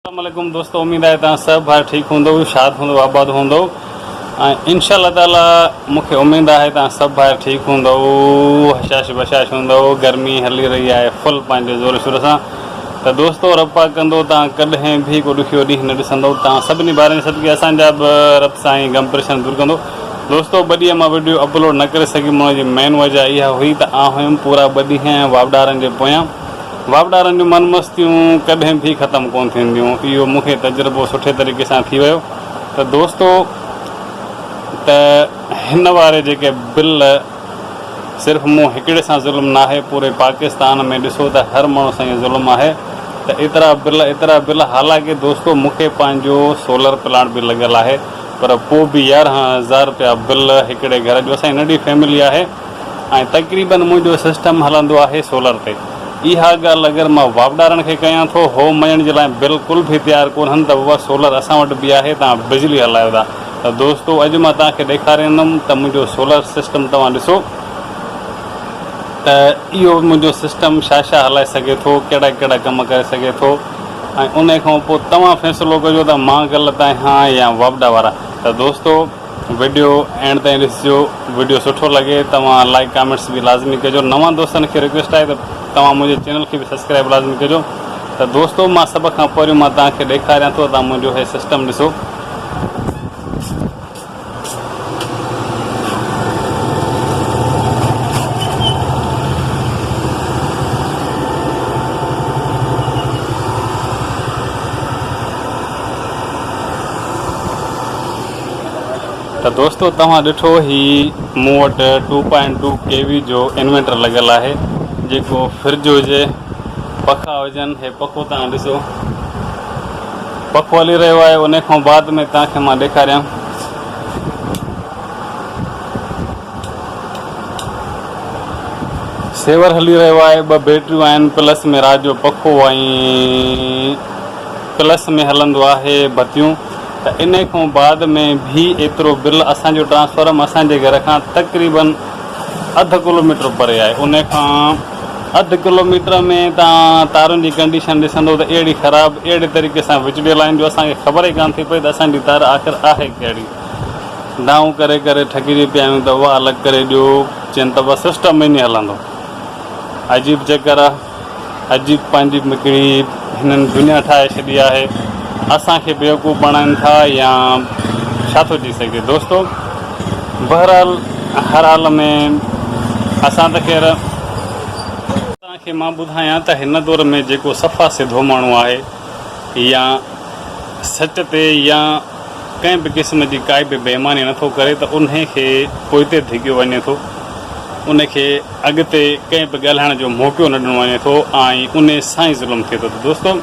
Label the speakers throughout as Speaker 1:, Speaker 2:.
Speaker 1: اسلام عليڪم دوستو اميد آهي توهان سڀ ڀائر ٺيڪ هوندؤ شاد هوندؤ آباد هوندؤ ۽ انشاء الله تعالي مون کي اميد آهي توهان سڀ ڀائر ٺيڪ هوندؤ هشاش بشاش هوندؤ گرمي هلي رهي آهي فل پنهنجي زور شور سان ته دوستو رب پاڪ ڪندو توهان ڪڏهن به ڪو ڏکيو ڏينهن نه ڏسندو توهان سڀني ڀائرن صدقي اسان جا به رب سائين غم پريشان دور ڪندو دوستو ٻه ڏينهن مان وڊيو اپلوڊ نه ڪري سگهيم ان جي مين وجه اها هئي ته آن هيم پورا ٻه ڏينهن واوڏارن جي پويان واپڊارن جون من مستيون ڪڏهن ڀي ختم ڪون ٿينديون اهو مون کي تجربو سٺي طريقي سان ٿي ويو ته دوستو ته هن واري جيڪي بل صرف مون هڪڙي سان ظلم ناهي پوري پاڪستان ۾ ڏسو ته هر ماڻهو سان اهو ظلم آهي ته ايترا بل ايترا بل حالانڪه دوستو مون کي پنهنجو سولر پلانٽ به لڳل آهي پر پو به يارهن هزار رپيا بل هڪڙي گهر جو اسان جي ننڍي فيملي آهي ۽ تقريبن منهنجو سسٽم هلندو آهي سولر تي. اها ڳالهه اگر مان واپڊارن کي ڪيان ٿو هو مڃڻ جي لاء بلڪل به تيار ڪونهن ته بابا سولر اسان وٽ به آهي توهان بجلي هلايو ٿا ته دوستو اڄ مان توهان کي ڏيکاريندم ته منهنجو سولر سسٽم توهان ڏسو ته اهو منهنجو سسٽم ڇا ڇا هلائي سگهي ٿو ڪهڙا ڪهڙا ڪم ڪري سگهي ٿو ۽ انهي کان پوء توهان فيصلو ڪجو ته مان غلط آهيان يا واپڊا وارا ته دوستو وڊيو اينڊ تائين ڏسجو وڊيو سٺو لڳي توهان لائڪ ڪامينٽس به لازمي ڪجو نوان دوستن کي رڪويسٽ آهي ته توهان منهنجي چينل کي به سبسڪرائب لازمي ڪجو ته دوستو مان سڀ کان پهريون مان توهان کي ڏيکاريان ٿو توهان منهنجو هي سسٽم ڏسو ته دوستو توهان ڏٺو هي مون وٽ two point two K V جو انويٽر لڳل آهي جيڪو فرج هجي پکا هجن هي پکو توهان ڏسو پکو هلي رهيو آهي ان کان بعد ۾ توهان کي مان ڏيکاريان سيور هلي رهيو آهي ٻه بيٽريون آهن پلس ۾ رات جو پکو ۽ پلس ۾ هلندو آهي بتيون ته ان کان بعد ۾ به ايترو بل اسان جو ٽرانسفارم اسان جي گهر کان تقريبن اڌ ڪلوميٽر پري آهي ان کان اڌ ڪلوميٽر ۾ تان تارن جي ڪنڊيشن ڏسندو ته اهڙي خراب اهڙي طريقي سان وچڙيل آهن جو اسان کي خبر ئي ڪانه ٿي پئي ته اسان جي تار آخر آهي ڪهڙي دانهون ڪري ڪري ٿڪجي پيا آهيون ته اها الڳ ڪري ڏيو چين ته بس سسٽم ائين ئي هلندو عجيب چڪر آهي. اڄ پنهنجي هڪڙي هنن دنيا ٺاهي ڇڏي آهي اسان کي بيوقوف بڻائن ٿا يا ڇا ٿو ٿي سگهي دوستو بهرحال هر حال ۾ اسان ته خير توهان کي مان ٻڌايان ته هن دور ۾ جيڪو صفا سڌو ماڻهو آهي يا سچ تي يا ڪنهن به قسم جي ڪائي به بي ايماني نه ٿو ڪري ته انهي کي پوئتي ڌڳيو وڃي ٿو، ان کي اڳتي ڪنهن به ڳالهائڻ جو موقعو نه ڏنو وڃي ٿو ۽ انهي سان ئي ظلم ٿئي ٿو ته دوستو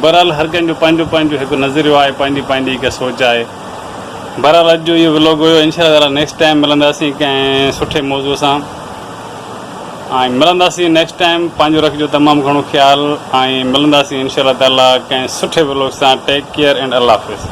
Speaker 1: بهرحال هر ڪنهن جو پنهنجو پنهنجو هڪ نظريو آهي پنهنجي پنهنجي هڪ سوچ آهي بهرحال اڄ جو اهو ولوگ هيو انشاء الله تعالي نيڪسٽ ٽائيم ملنداسين ڪنهن سٺي موضوع سان ۽ ملنداسين نيڪسٽ ٽائيم پنهنجو رکجو تمام گهڻو خيال ۽ ملنداسين انشاء الله تعالي ڪنهن سٺي ولوگ سان ٽيڪ ڪيئر اينڊ الله حافظ.